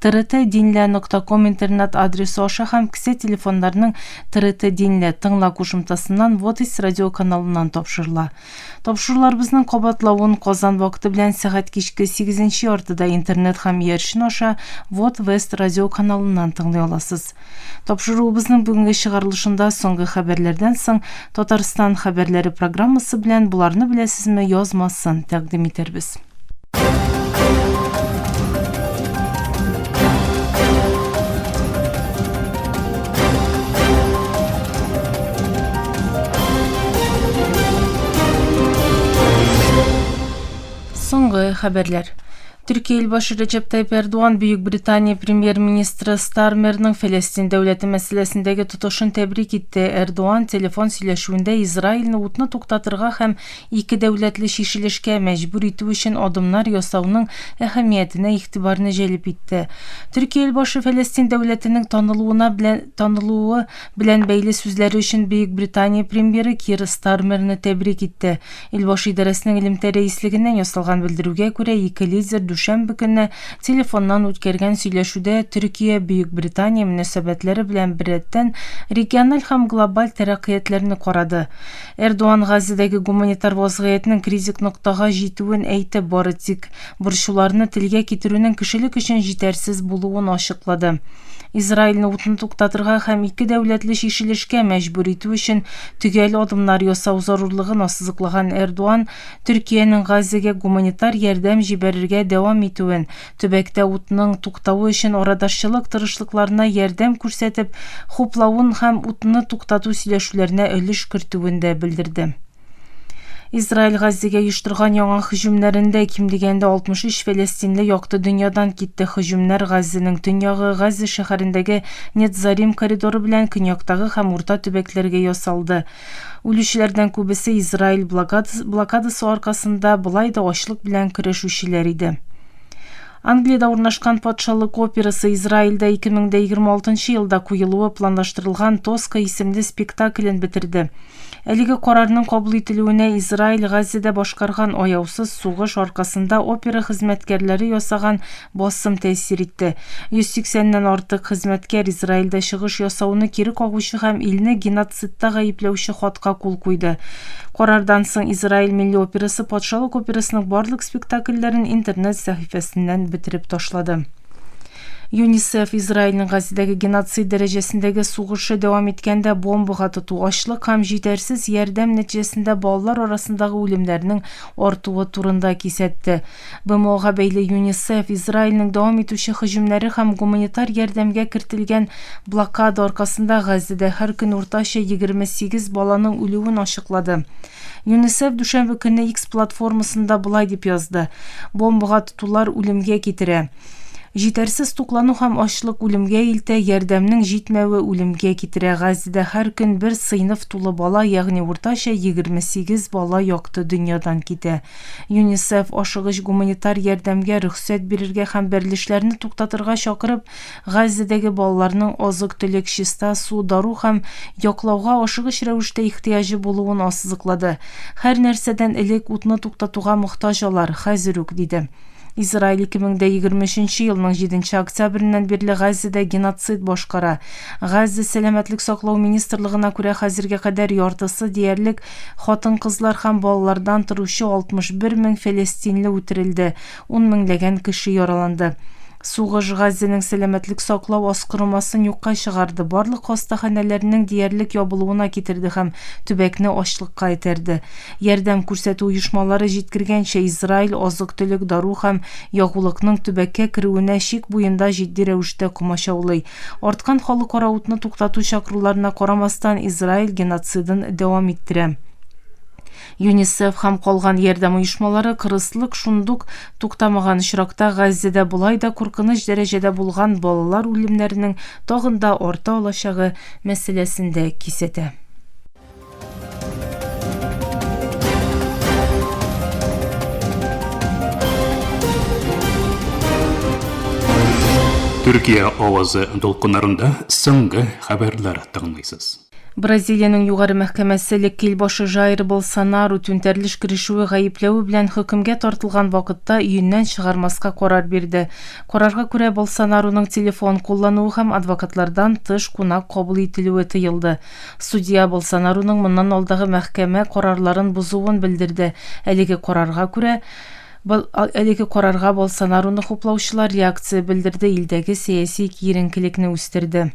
TRT Dinle нокта ком интернет адресы аша һәм кесә телефоннарының TRT Dinle тыңла кушымтасыннан Водис радиоканалыннан тапшырыла. Тапшыруларыбызның кабатлавын Казан вакыты белән сәгать кичке 8 нче яртыда интернет һәм иярчен аша Вот Вест радиоканалыннан тыңлый аласыз. Тапшыруыбызның бүгенге чыгарылышында соңгы хәбәрләрдән соң Татарстан хәбәрләре программасы белән Боларны беләсезме язмасын тәкъдим итәрбез. Соңгы хәбәрләр. Төркия илбашы Рәҗәп Тайп Эрдуан Бөекбритания премьер-министры Стармерның Фәләстин дәүләте мәсьәләсендәге тотышын тәбрик итте. Эрдуан телефон сөйләшүендә Израильне утны туктатырга һәм ике дәүләтле чишелешкә мәҗбүр итү өчен адымнар ясауның әһәмиятенә игътибарны җәлеп итте. Төркия илбашы Фәләстин дәүләтенең танылуына белән танылуы белән бәйле сүзләре өчен Бөекбритания премьеры Кир Стармерны тәбрик итте. Илбашы идарәсенең элемтә рәислегеннән ясалган белдерүгә күрә, ике лидер дүшәмбе көнне телефоннан үткәргән сөйләшүдә Төркия, Бөекбритания мөнәсәбәтләре белән беррәттән региональ һәм глобаль тәрәккыятләрне карады. Эрдуан Газидәге гуманитар вазгыятьнең критик ноктага җитүен әйтеп бары тик борчуларны телгә китерүнең кешелек өчен җитәрсез булуын ачыклады. Израильне утны туктатырга һәм ике дәүләтле чишелешкә мәҗбүр итү өчен төгәл адымнар ясау зарурлыгын ассызыклаган Эрдуан Төркиянең Газәгә гуманитар ярдәм җибәрергә дәвам итүен, төбәктә утның туктавы өчен арадашчылык тырышлыкларына ярдәм күрсәтеп хуплавын һәм утны туктату сөйләшүләренә өлеш кертүен дә белдерде. Израиль Газзигә оештырган яңа һөҗүмнәрендә ким дигәндә 63 фәләстинле якты дөньядан китте. Һөҗүмнәр Газзинең төньягы, Газза шәһәрендәге Нетзарим коридоры белән көньяктагы һәм урта төбәкләргә ясалды. Үлүчеләрдән күбесе Израиль блокадасы аркасында болай да ачлык белән көрәшүчеләр иде. Англиядә урнашкан патшалык операсы Израильдә 2026 елда куелуы планлаштырылган Тоска исемле спектаклен бетерде. Әлеге карарның кабул ителүенә Израиль Газиядә башкарган аяусыз сугыш аркасында опера хезмәткәрләре ясаган басым тәэсир итте. 180 ннән артык хезмәткәр Израильдә чыгыш ясауны кире кагучы һәм илне геноцидта гаепләүче хатка кул куйды. Карардан соң Израиль милли операсы Патшалык операсының барлык спектакльләрен интернет сәхифәсеннән бетереп ташлады. ЮНИСЕФ Израильнең Газидәге геноцид дәрәҗәсендәге сугышы дәвам иткәндә бомбага тоту, ачлык һәм җитәрсез ярдәм нәтиҗәсендә балалар арасындагы үлемнәрнең артуы турында кисәтте. БМОга бәйле ЮНИСЕФ Израильнең дәвам итүче һөҗүмнәре һәм гуманитар ярдәмгә кертелгән блокада аркасында Газидә һәр көн уртача 28 баланың үлүен ачыклады. ЮНИСЕФ дүшәмбе көнне X платформасында болай дип язды, Бомбага тотулар үлемгә китерә. Җитәрсез туклану һәм ачлык үлемгә илтә, ярдәмнең җитмәве үлемгә китерә. Газизәдә һәр көн бер сыйныф тулы бала, ягъни уртача 28 бала якты дөньядан китә. ЮНИСЕФ, ашыгыч гуманитар ярдәмгә рөхсәт бирергә һәм бәрелешләрне туктатырга чакырып, Газизәдәге балаларның азык-төлек, чиста су, дару һәм яклауга ашыгыч рәвештә ихтыяҗы булуын ассызыклады. Һәр нәрсәдән элек утны туктатуга мохтаҗ алар, хәзер үк, диде. Израиль 2023 елның 7 октябреннән бирле Газзәдә геноцид башкара. Газзә сәламәтлек саклау министрлыгына күрә, хәзергә кадәр яртысы диярлек хатын-кызлар һәм балалардан торучы 61 мең фәләстинле үтерелде, ун меңләгән кеше яраланды. Сугыш Газзәнең сәламәтлек саклау аскырымасын юкка чыгарды, барлык хастаханәләрнең диярлек ябылуына китерде һәм төбәкне ачлыкка этәрде. Ярдәм күрсәтү оешмалары җиткергәнчә, Израиль азык-төлек, дару һәм ягулыкның төбәккә керүенә чик буенда җитди рәвештә комачаулый. Арткан халыкара утны туктату чакыруларына карамастан, Израиль геноцидын дәвам иттерә. ЮНИСЕФ һәм калган ярдәм оешмалары кырыслык шундук туктамаган очракта, Газзәдә болай да куркыныч дәрәҗәдә булган балалар үлемнәренең тагын да арта алачагы мәсьәләсен дә кисәтә. Төркия авазы дулкыннарында соңгы хәбәрләр тыңлыйсыз. Бразилиянең югары мәхкәмәсе Леккил башы Жаир Болсонару түнтәрелеш керешүе гаепләве белән хөкемгә тартылган вакытта өеннән чыгармаска карар бирде. Карарга күрә Болсонаруның телефон куллануы һәм адвокатлардан тыш кунак кабул ителүе тыелды. Судья Болсонаруның моннан алдагы мәхкәмә карарларын бозуын белдерде. Әлеге карарга күрә, Әлеге карарга Болсонаруны хуплаучылар реакция белдерде, илдәге сәяси киеренкелекне үстерде.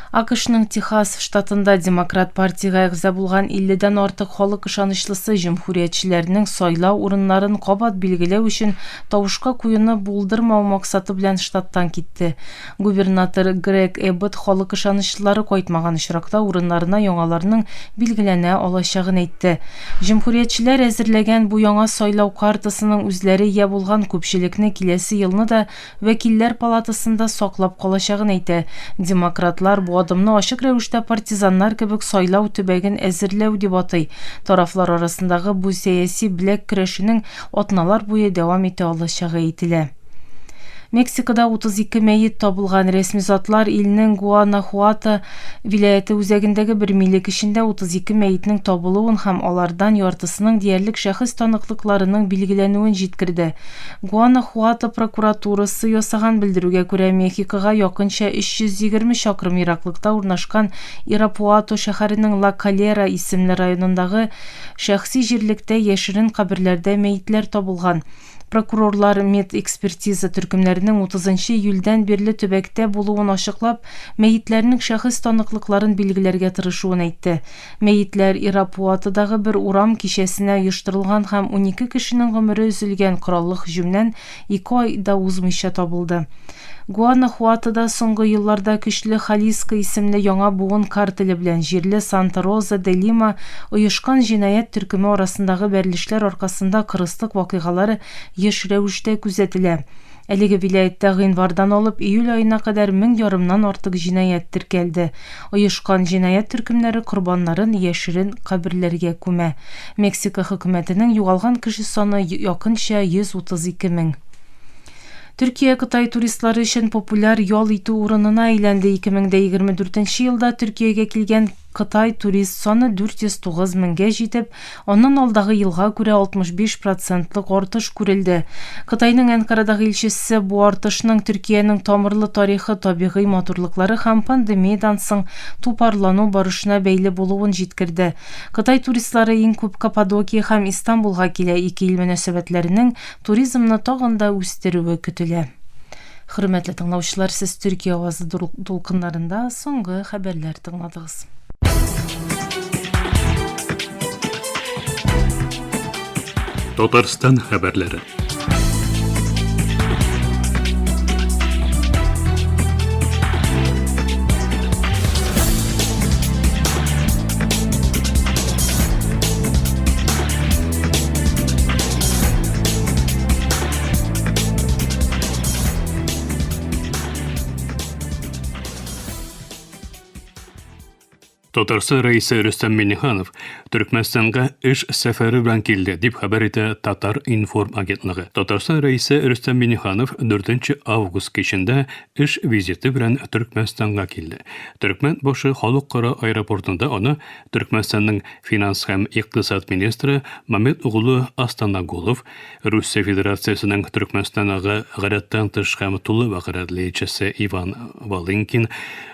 АКШның Техас штатында Демократ партиягә әгъза булган 50 дән артык халык ышанычлысы җөмһүриятчеләрнең сайлау урыннарын кабат билгеләү өчен тавышка куюны булдырмау максаты белән штаттан китте. Губернатор Грег Эббот халык ышанычлылары кайтмаган очракта урыннарына яңаларның билгеләнә алачагын әйтте. Җөмһүриятчеләр әзерләгән бу яңа сайлау картасының үзләре ия булган күпчелекне киләсе елны да Вәкилләр палатасында саклап калачагын әйтә. Демократлар бу адымны ачык рәвештә партизаннар кебек сайлау төбәген әзерләү дип атый. Тарафлар арасындагы бу сәяси беләк көрәшенең атналар буе дәвам итә алачагы әйтелә. Мексикада 32 мәет табылган. Рәсми затлар илнең Гуанахуато вилаяте үзәгендәге бер милек эчендә 32 мәетнең табылуын һәм алардан яртысының диярлек шәхес таныклыкларының билгеләнүен җиткерде. Гуанахуато прокуратурасы ясаган белдерүгә күрә, Мехикога якынча 320 чакрым ераклыкта урнашкан Ирапуато шәһәренең Ла Калера исемле районындагы шәхси җирлектә яшерен каберләрдә мәетләр табылган. Прокурорлар медэкспертиза төркемнәренең 30 нчы июльдән бирле төбәктә булуын ачыклап, мәетләрнең шәхес таныклыкларын билгеләргә тырышуын әйтте. Мәетләр Ирапуатодагы бер урам кичәсенә оештырылган һәм унике кешенең гомере өзелгән кораллы һөҗүмнән ике ай да узмыйча табылды. Гуанахуатода соңгы елларда көчле Халиско исемле яңа буын картеле белән җирле Санта-Роза де Лима оешкан җинаять төркеме арасындагы бәрелешләр аркасында кырыслык вакыйгалары еш рәвештә күзәтелә. Әлеге вилаятьтә гыйнвардан алып июль аена кадәр мең ярымнан артык җинаять теркәлде. Оешкан җинаять төркемнәре корбаннарын яшерен каберләргә күмә. Мексика хөкүмәтенең югалган кеше саны якынча 132 мең. Төркия Кытай туристлары өчен популяр ял итү урынына әйләнде 2024 нче елда Төркиягә килгән Кытай турист саны 409 меңгә җитеп, аннан алдагы елга күрә 65 процентлык артыш күрелде. Кытайның Әнкарадагы илчесе бу артышның Төркиянең тамырлы тарихы, табигый матурлыклары һәм пандемиядән соң тупарлану барышына бәйле булуын җиткерде. Кытай туристлары иң күп Каппадокия һәм Истанбулга килә, ике ил мөнәсәбәтләренең туризмны тагын да үстерүе көтелә. Хөрмәтле тыңлаучылар, сез Төркия авазы дулкыннарында соңгы хәбәрләр тыңладыгыз. Татарстан хәбәрләре. Татарстан рәисе Рөстәм Миниханов Төркмәнстанга эш сәфәре белән килде, дип хәбәр итә Татар информ агентлыгы. Татарстан рәисе Рөстәм Миниханов 4 август кичендә эш визиты белән Төркмәнстанга килде. Төркмән башы халыкара аэропортында аны Төркмәнстанның финанс һәм икътисад министры Мамед углы Астанагулов, Русия Федерациясенең Төркмәнстанагы гадәттән тыш һәм тулы вәкаләтлеечесе Иван Волынкин,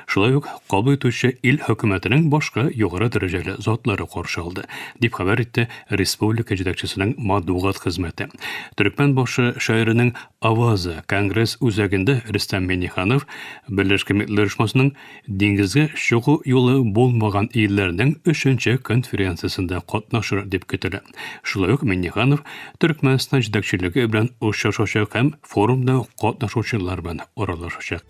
шулай ук кабул итүче ил хөкүмәтенең башка югары дәрәҗәле затлары каршы алды, дип хәбәр итте республика җитәкчесенең матбугат хезмәте. Төркмән башы шәһәренең Аваза конгресс үзәгендә Рөстәм Миңнеханов Берләшкән Милләтләр оешмасының диңгезгә чыгу юлы булмаган илләрнең өченче конференциясендә катнашыр дип көтелә. Шулай ук Миннеханов Төркмәнстан җитәкчелеге белән очрашачак һәм форумда катнашучылар белән аралашачак.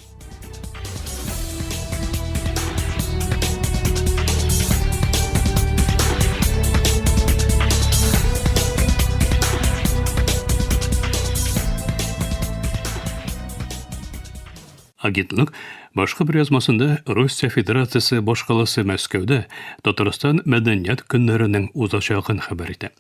Агентлык башка бер язмасында Россия Федерациясе башкаласы Мәскәүдә Татарстан мәдәният көннәренең узачагын хәбәр итә.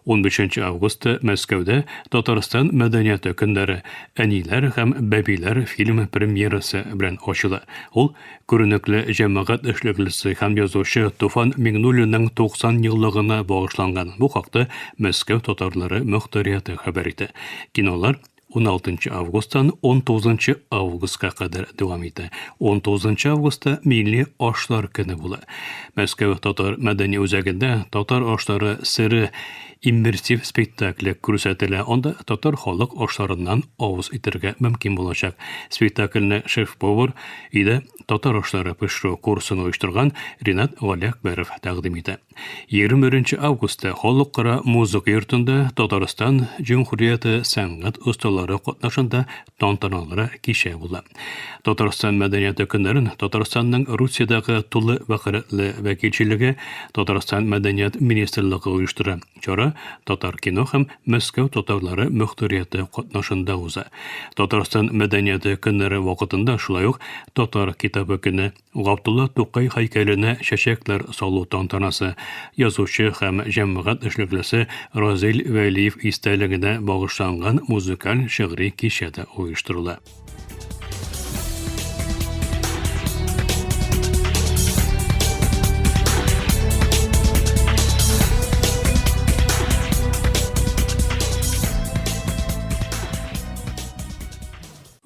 15 августта Мәскәүдә Татарстан мәдәнияты көннәре Әниләр һәм бәбиләр фильмы премьерасы белән ачыла. Ул күренекле җәмәгать эшлеклесе һәм язучы Туфан Миңнуллинның 90 еллыгына багышланган. Бу хакта Мәскәү татарлары мөхтәрияте хәбәр итә. Кинолар 16 августтан 19 августка кадәр дәвам итә. 19 августта милли ашлар көне була. Мәскәү татар мәдәни үзәгендә татар ашлары сыре иммерсив спектакле күрсәтелә. Анда татар халык ашларыннан авыз итәргә мөмкин булачак. Спектакльне шеф-повар иде татар ашлары пешерү курсын оештырган Ринат Галиәкбәров тәкъдим итә. 21 августта Халыкара музыка йортында Татарстан Җөмһүрияте сәнгать осталары катнашында тантаналары кичә була. Татарстан мәдәнияты көннәрен Татарстанның Русиядәге тулы вәкаләтле вәкилчелеге Татарстан мәдәният министрлыгы оештыра. Чара Татар кино һәм Мәскәү татарлары мөхтәрияте катнашында уза. Татарстан мәдәнияты көннәре вакытында шулай ук Татар китабы көне Габдулла Тукай һәйкәленә чәчәкләр салу тантанасы язучы һәм җәмәгать эшлеклесе Разил Вәлиев истәлегенә багышланган музыкаль шигъри кичә дә оештырыла.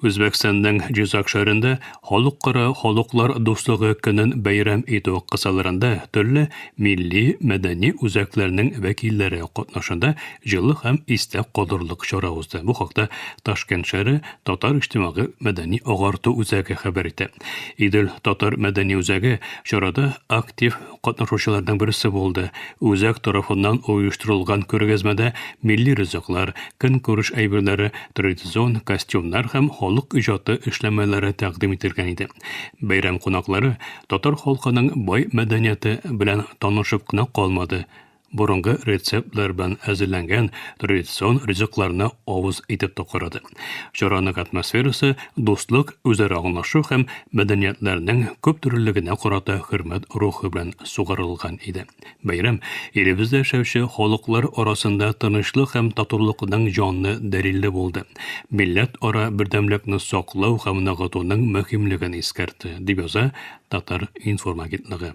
Үзбәкстанның Җизак шәһәрендә Халыкара халыклар дуслыгы көнен бәйрәм итү кысаларында төрле милли, мәдәни үзәкләрнең вәкилләре катнашында җылы һәм истә калырлык чара узды. Бу хакта Ташкент шәһәре татар иҗтимагый-мәдәни агарту үзәге хәбәр итә. Идел татар мәдәни үзәге чарада актив катнашучыларның берсе булды. Үзәк тарафыннан оештырылган күргәзмәдә милли ризыклар, көнкүреш әйберләре, традицион костюмнар һәм халык иҗаты эшләнмәләре тәкъдим ителгән иде. Бәйрәм кунаклары татар халкының бай мәдәнияте белән танышып кына калмады, борынгы рецептлар белән әзерләнгән традицион ризыкларны авыз итеп токырады. Чараның атмосферасы дуслык, үзара аңлашу һәм мәдәниятләрнең күптөрлелегенә карата хөрмәт рухы белән сугарылган иде. Бәйрәм илебездә яшәүче халыклар арасында тынычлык һәм татулыкның җанлы дәлиле булды. Милләт ара бердәмлекне саклау һәм ныгытуның мөһимлеген искәртте, дип яза Татар-информ агентлыгы.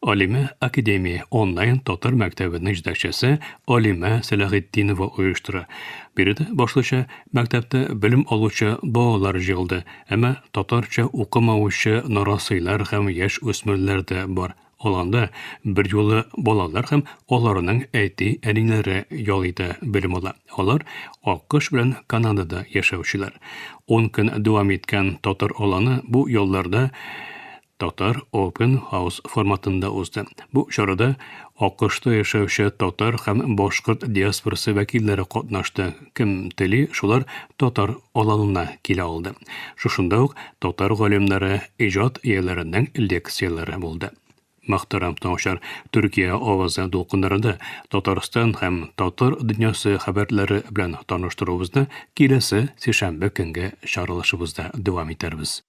Алимә Академия онлайн татар мәктәбенең җитәкчесе Алимә Сәләхетдинова оештыра. Биредә башлыча мәктәптә белем алучы балалар җыелды, әмма татарча укымаучы нарасыйлар һәм яшь үсмерләр дә бар. Ул анда берьюлы балалар һәм аларның әти-әниләре ял итә, белем ала. Алар Аккош белән Канадада яшәүчеләр. Ун көн дәвам иткән татар аланы бу ялларда Татар Open House форматында узды. Бу чарада АКШта яшәүче татар һәм башкорт диаспорасы вәкилләре катнашты. Кем тели, шулар татар аланына килә алды. Шушында ук татар галимнәре, иҗат ияләренең лекцияләре булды. Мөхтәрәм тыңучылар, Төркия авазы дулкыннарында Татарстан һәм татар дөньясы хәбәрләре белән таныштыруыбызны киләсе сишәмбе көнге чаралышыбызда дәвам итәрбез.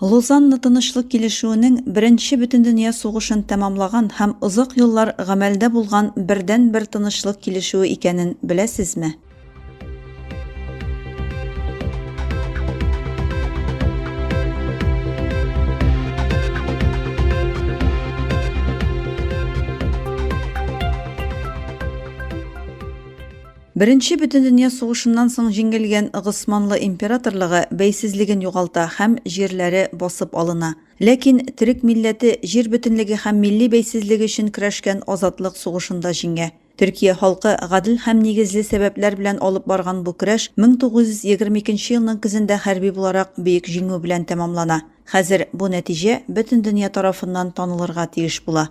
Лозанна тынычлык килешүенең беренче бөтендөнья сугышын тәмамлаган һәм озак еллар гамәлдә булган бердәнбер тынычлык килешүе икәнен беләсезме? Беренче бөтендөнья сугышыннан соң җиңелгән Госманлы императорлыгы бәйсезлеген югалта һәм җирләре басып алына. Ләкин төрек милләте җир бөтенлеге һәм милли бәйсезлеге өчен көрәшкән азатлык сугышында җиңә. Төркия халкы гадел һәм нигезле сәбәпләр белән алып барган бу көрәш 1922 елның көзендә хәрби буларак бөек җиңү белән тәмамлана. Хәзер бу нәтиҗә бөтен дөнья тарафыннан танылырга тиеш була.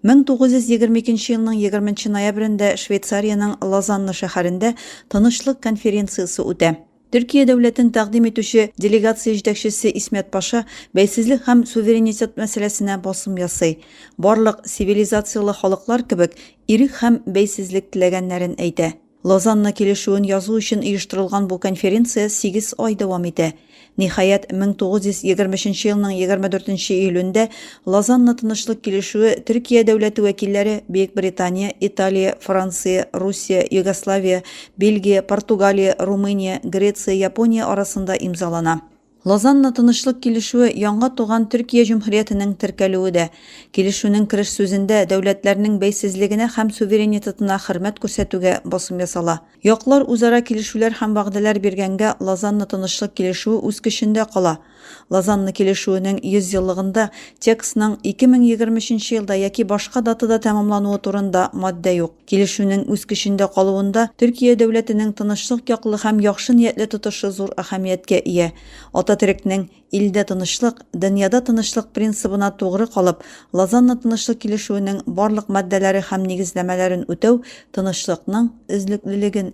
1922 нче елның 20 нче ноябрендә Швейцариянең Лозанна шәһәрендә Тынычлык конференциясе үтә. Төркия дәүләтен тәкъдим итүче делегация җитәкчесе Исмәт паша бәйсезлек һәм суверенитет мәсьәләсенә басым ясый, барлык цивилизацияле халыклар кебек, ирек һәм бәйсезлек теләгәннәрен әйтә. Лозанна килешүен язу өчен оештырылган бу конференция сигез ай дәвам итә. Ниһаять, 1923 елның 24 июлендә Лозанна тынычлык килешүе Төркия дәүләте вәкилләре Бөекбритания, Италия, Франция, Русия, Югославия, Бельгия, Португалия, Румыния, Греция, Япония арасында имзалана. Лозанна тынычлык килешүе яңа туган Төркия җөмһүриятенең теркәлүе дә. Килешүнең кереш сүзендә дәүләтләрнең бәйсезлегенә һәм суверенитетына хөрмәт күрсәтүгә басым ясала. Яклар үзара килешүләр һәм вәгъдәләр биргәнгә Лозанна тынычлык килешүе үз көчендә кала. Лозанна килешүенең 100 еллыгында текстның 2023 елда яки башка датада тәмамлануы турында маддә юк. Килешүнең үз көчендә калуында Төркия дәүләтенең тынычлык яклы һәм яхшы ниятле тотышы зур әһәмияткә ия. Ататөрекнең, Илдә тынычлык, дөньяда тынычлык принцибына тугры калып, Лозанна тынычлык килешүенең барлык маддәләре һәм нигезләмәләрен үтәү тынычлыкның өзлеклелеген